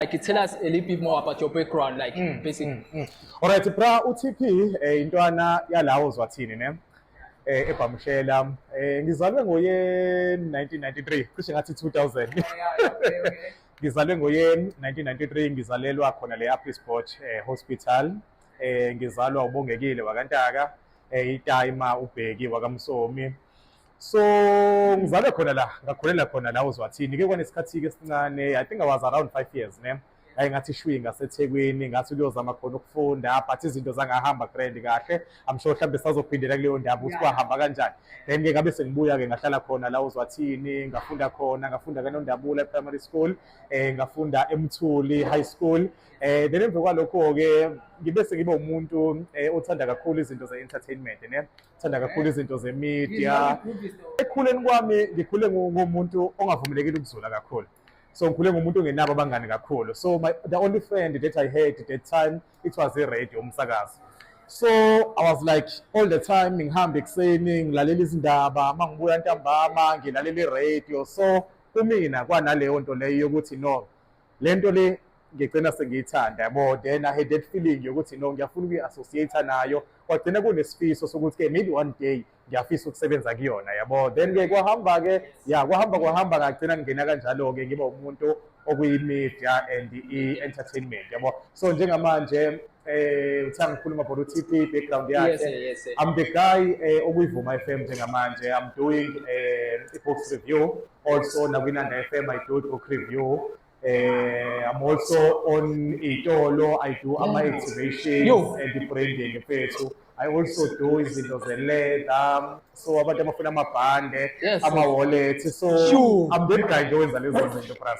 like it tell us a little bit more about your background like mm, basic mm, mm. all right bra utp eh, intwana yalawo zwathini ne eh ebhamshela eh ngizalwe ngoye 1993 cishe ngathi 2000 ngizalwe ngoye 1993 ngizalelwa khona le Apple Sport eh, Hospital eh ngizalwa ubongekile wakantaka eh itayima ubheki wakamsomi so ngizalwe khona la ngakhulela khona la uzwathini ke kwanesikhathi-ke esincane i think i was around five years ne ngaye ngathi shwi ngasethekwini ngathi kuyozama khona ukufunda but izinto zangahamba grand kahle i'm sure mhlawumbe sazophindela kuleyo ndaba ukuthi kwahamba kanjani then ke ngabe sengibuya-ke ngahlala khona la uzwathini ngafunda khona ngafunda kanondabula e-primary school um ngafunda emthuli high school um then emva kwalokho-ke ngibe sengibe umuntu um othanda kakhulu izinto ze-entertainment ne Thanda kakhulu izinto zemedia. Ekhuleni kwami ngikhule ngomuntu ongavumelekile ukuzula kakhulu. So ngikhule ngomuntu ongenabo abangani kakhulu. So my, the only friend that I had at that time it was a radio umsakazo. So I was like all the time ngihamba ekuseni ngilalela izindaba, mangibuya ntambama ngilalela i-radio. So kumina kwanaleyo nto leyo yokuthi no le nto le ngigcina sengiyithanda yabo then i had that feeling yokuthi no ngiyafuna ukuyi-associate nayo kwagcina kunesifiso sokuthi-ke maybe one day ngiyafisa ukusebenza kuyona yabo then-ke kwahamba-ke ya kwahamba kwahamba ngagcina ngingena kanjalo-ke ngiba umuntu okuyi-media and i-entertainment yabo so njengamanje eh uthi angikhuluma for uTP background yakhe yes, yes, yes. I'm the guy eh, okuyivuma FM njengamanje I'm doing eh book review also nakwinanda FM I do book review eh I'm also on itolo I do mm. ama activations and the branding mfethu I also do izinto ze leather so abantu abafuna amabhande ama wallet so sure. I'm the guy nje wenza lezo zinto plus